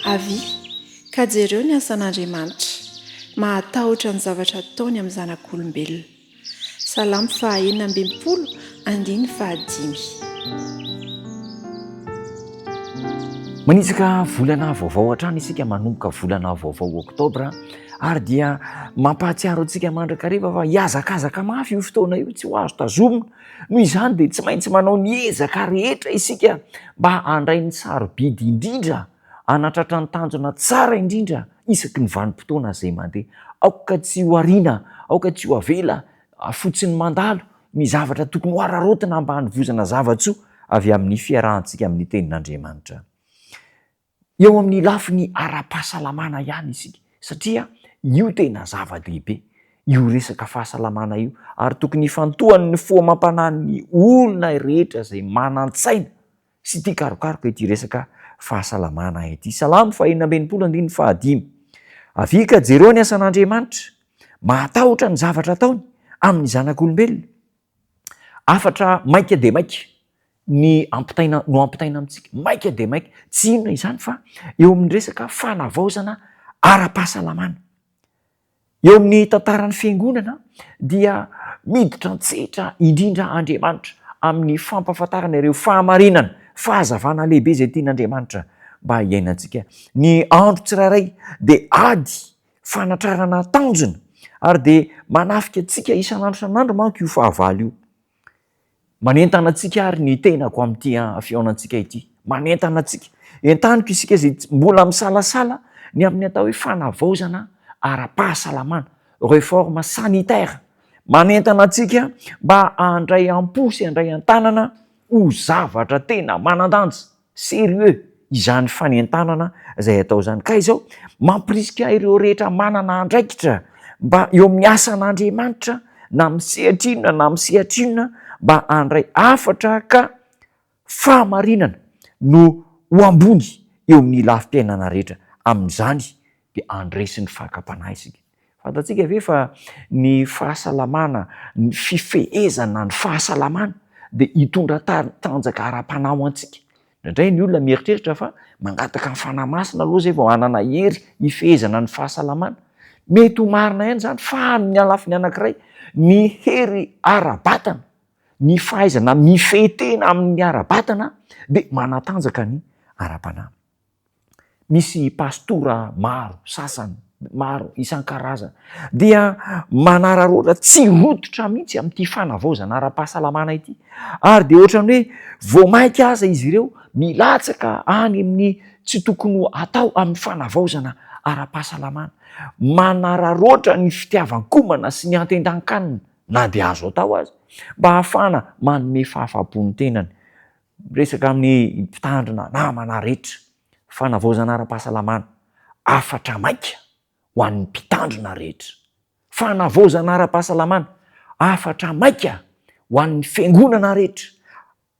Avia, ka jereo ny asan'Andriamanitra, mahatahotra ny zavatra ataony amin'ny zanak'olombelona. Salamo faha enina ambin'ny folo andininy faha dimy. Manitsaka volana vaovao hatrany isika manomboka volana vaovao oktobra ary dia mampahatsiaro antsika mandrakariva fa hiazakazaka mafy io fotoana io tsy ho azo tazomina Noho izany dia tsy maintsy manao ny ezaka rehetra isika mba handray ny sarobidy indrindra hanatratra ny tanjona tsara indrindra isaky ny vanim-potoana izay mandeha. Aoka tsy ho ariana, aoka tsy ho avela fotsiny mandalo ny zavatra tokony hohararaotina mba hanovozana zava-tsoa avy amin'ny fiarahantsika amin'ny Tenin'Andriamanitra. Eo amin'ny lafiny ara-pahasalamana ihany isika satria io tena zava-dehibe io resaka fahasalamana io ary tokony hifantohan'ny fo amam-panahin'ny olona rehetra izay manan-tsaina sy tia karokaroka ity resaka fahasalamana ity. Salamo fahenina amby enimpolo andininy fahadimy, Avia ka jereo ny asan'Andriamanitra, mahatahotra ny zavatra ataony amin'ny zanak'olombelona. Hafatra maika dia maika ny ampitaina no ampitaina amintsika, maika dia maika. Tsy inona izany fa eo amin'ny resaka fanavaozana ara-pahasalamana. Eo amin'ny tantaran'ny fiangonana dia miditra an-tsehatra indrindra Andriamanitra amin'ny fampahafantarana ireo fahamarinana, fahazavana lehibe izay tian'Andriamanitra mba hiainantsika. Ny andro tsirairay dia ady fanatrarana tanjona ary dia manafika antsika isan'andro isan'andro manko io fahavalo io. Manentana antsika ary ny tenako amin'ity fihaonantsika ity. Manentana antsika. Entaniko isika izay mbola misalasala ny amin'ny atao hoe fanavaozana ara-pahasalamana, réforme sanitaire. Manentana antsika mba handray am-po sy handray an-tanana ho zavatra tena manan-danja. Sérieux izany fanentanana izay atao izany ka izao mampirisika ireo rehetra manana andraikitra mba eo amin'ny asan'Andriamanitra na amin'ny sehatra inona na amin'ny sehatra inona mba handray hafatra ka fahamarinana no ho ambony eo amin'ny lafim-piainana rehetra, amin'izany dia handresy ny fakam-panahy isika. Fantatsika ve fa ny fahasalamana, ny fifehezana ny fahasalamana dia hitondra tanjaka ara-panahy ho antsika? Indraindray ny olona mieritreritra fa mangataka ny Fanahy Masina aloha izay vao hanana hery hifehezana ny fahasalamana. Mety ho marina ihany izany fa amin'ny lafiny anankiray, ny hery ara-batana, ny fahaizana mifehy tena amin'ny ara-batana dia manatanjaka ny ara-panahy. misy pastora maro sasany, maro isan-karazany, dia manararaotra tsy rototra mihitsy amin'ity fanavaozana ara-pahasalamana ity. Ary dia ohatran'ny hoe vao mainka aza izy ireo milatsaka any amin'ny tsy tokony ho atao amin'ny fanavaozana ara-pahasalamana. Manararaotra ny fitiavan-komana sy ny antentan-kanina, na dia azo atao aza, mba hahafahana manome fahafapo ny tenany. Miresaka amin'ny mpitandrina namana rehetra, fanavaozana ara-pahasalamana, hafatra maika ho an'ny mpitandrina rehetra. Fanavaozana ara-pahasalamana, hafatra maika ho an'ny fiangonana rehetra.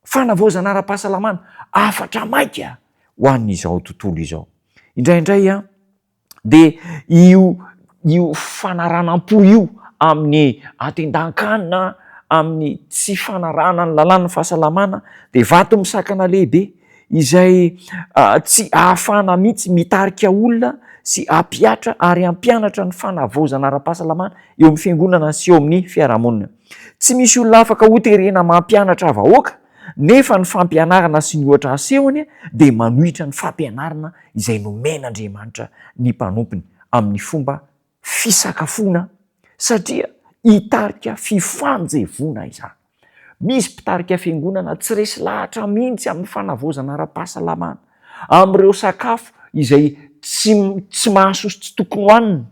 Fanavaozana ara-pahasalamana, hafatra maika ho an'izao tontolo izao. Indraindray an! Dia io io fanaranam-po io amin'ny atindan-kanina, amin'ny tsy fanarahana ny lalàn'ny fahasalamana dia vato misakana lehibe izay tsy ahafahana mihitsy mitarika olona sy hampihatra ary hampianatra ny fanavaozana ara-pahasalamana eo amin'ny fiangonana sy eo amin'ny fiarahamonina. Tsy misy olona afaka hoterena mampianatra vahoaka. Nefa ny fampianarana sy ny ohatra asehony dia manohitra ny fampianarana izay nomen'Andriamanitra ny mpanompony amin'ny fomba fisakafoana satria hitarika fifanjevoana izany. Misy mpitarika fiangonana tsy resy lahatra mihitsy amin'ny fanavaozana ara-pahasalamana, amin'ireo sakafo izay tsy mahasoa sy tsy tokony hohanina.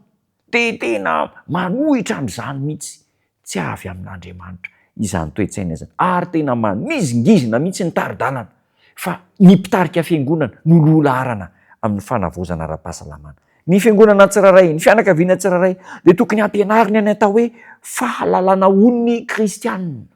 Dia tena manohitra an'izany mihitsy tsy avy amin'Andriamanitra izany toe-tsaina izany, ary tena manizingizina mihitsy ny tari-dalana fa ny mpitarika fiangonana no loha laharana amin'ny fanavaozana ara-pahasalamana ny fiangonana tsirairay, ny fianakaviana tsirairay dia tokony hampianarina ny atao hoe fahalalana ho ny kristianina.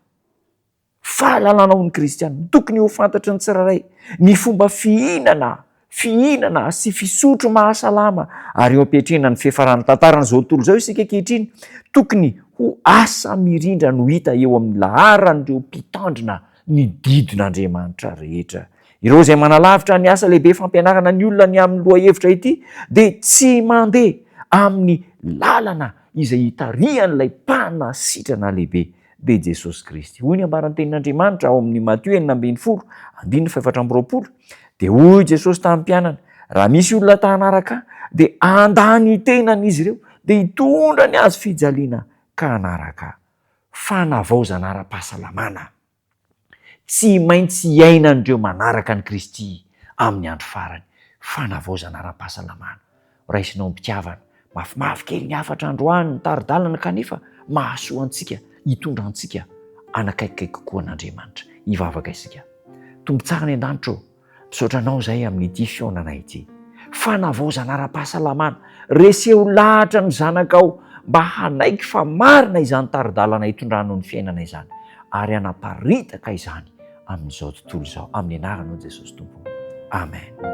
Fahalalana ho ny kristiana. Tokony ho fantatry ny tsirairay ny fomba fihinana, fihinana sy fisotro mahasalama ary eo am-piatrehana ny fiafaran'ny tantaran'izao tontolo izao isika ankehitriny. Tokony ho asa mirindra no hita eo amin'ny laharan'ireo mpitandrina ny didin'Andriamanitra rehetra. Ireo izay manalavitra ny asa lehibe fampianarana ny olona ny amin'ny lohahevitra ity dia tsy mandeha amin'ny lalana izay itarihan'ilay Mpanasitrana Lehibe be Jesosy Kristy. Hoy ny ambaran'ny tenin'Andriamanitra ao amin'ny Matio enina ambin'ny folo, andininy fahefatra amby roapolo, dia hoy Jesosy tamin'ny mpianany, raha misy olona ta hanaraka ahy, dia handà ny tenany izy ireo, dia hitondra ny hazo fijaliana ka hanaraka ahy. Fanavaozana ara-pahasalamana. Tsy maintsy iainan'ireo manaraka an'i Kristy amin'ny andro farany, fanavaozana ara-pahasalamana. Raisinao am-pitiavana. Mafimafy kely ny hafatra androany, ny tari-dalana, kanefa mahasoa antsika, hitondra antsika hanakaikikaiky kokoa an'Andriamanitra. Hivavaka isika. Tompo tsara any an-danitra ô! Misaotra anao izahay amin'ity fihaonana ity. Fanavaozana ara-pahasalamana. Reseho lahatra ny zanakao mba hanaiky fa marina izany tari-dalana itondranao ny fiainana izany ary hanaparitaka izany amin'izao tontolo izao. Amin'ny anaranao Jesosy Tompo. Amen.